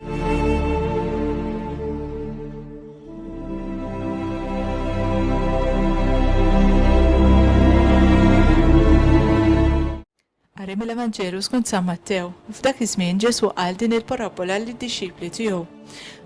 Qari mill-Evanġelu skont San Mattew. F'dak iż-żmien Ġesù qal din il-parabbola lid-dixxipli tiegħu.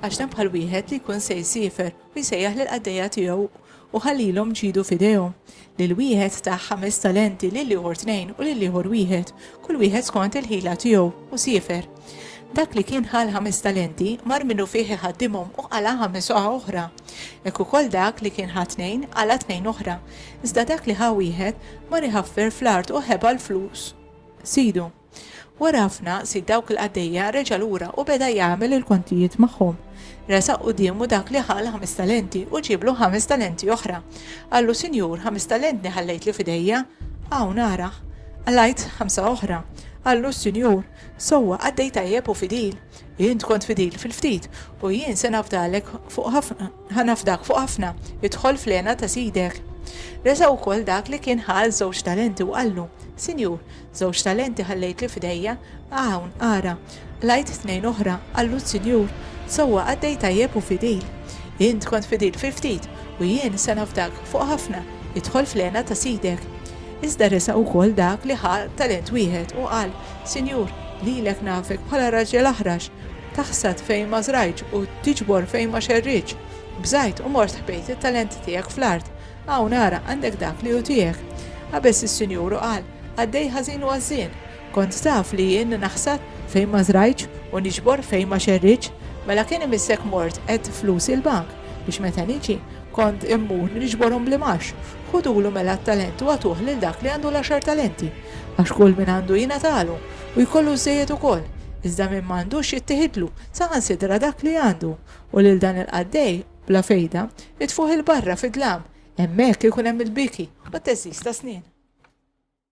Għax hemm bħal wieħed li jkun se jsiefer u jsejjaħ lill-qaddejja tiegħu, u ħa lilhom ġidu f'idejhom, lil wieħed ta ħames talenti, lil ieħor tnejn, u lil ieħor wieħed, kull wieħed skont il-ħila tiegħu, u siefer. Dak li kien ħa l-ħames talenti, mar minnufih iħaddimhom u qala' ħames oqgħa oħra. Hekk ukoll dak li kien ħa tnejn, qala' tnejn oħra. Iżda dak li ħa wieħed, mar iħaffer fl-art u ħeba l-flus sidu. Wara ħafna sid dawk il-qaddejja reġa' lura u beda jagħmel il-kontijiet magħhom. Resaq quddiemu dak li ħa l-ħames talenti u ġieblu ħames talenti oħra. Qallu, 'Sinjur, ħames talentni ħallejtli f'idejja. Hawn, arah! Qalajt ħamsa oħra. Qallu, 'Sinjur, sewwa qaddej tajjeb u fidil. Int kont fidil fil-ftit u jien se nafdalek fuq ħafna, ħa nafdak fuq ħafna, idħol fl-hena ta' sidek. Resaq ukoll dak li kien ħa l-żewġ talenti u qallu, 'Sinjur, Żewġ talenti ħallejtli f'idejja, hawn, ara, qlajt tnejn oħra, qallu s-Sinjur, sewwa qaddej tajjeb u fidil. Int kont fidil fi ftit, u jien se nafdak fuq ħafna, idħol fl-hena ta' sidek. Iżda resaq ukoll dak li ħa talent wieħed u qal, Sinjur, lilek nafek bħala raġel aħrax, taħsad fejn ma żrajtx u tiġbor fejn ma xerridtx. Bżajt u mort ħbejt it-talenti tiegħek fl-art, Hawn ara, għandek dak li hu tiegħek. Qabeż is-Sinjur u qal, Qaddej ħażin u għażżien! Kont taf li jien naħsad fejn ma żrajtx u niġbor fejn ma xerridtx? Mela kien imissek mort għedt flusi l-bank, biex meta niġi, kont immur niġborhom bl-imgħax. Ħudulu mela t-talent u agħtuh lil dak li għandu l-għaxar talenti. Għax kull min għandu jingħatalu, u jkollu żżejjed ukoll, iżda min m'għandux jittieħidlu, saħansitra dak li għandu. U lil dan il-qaddej, Bla fejda, itfuh 'il barra fid-dlam, hemmhekk ikun hemm il-biki u t-theżżiż tas-snien.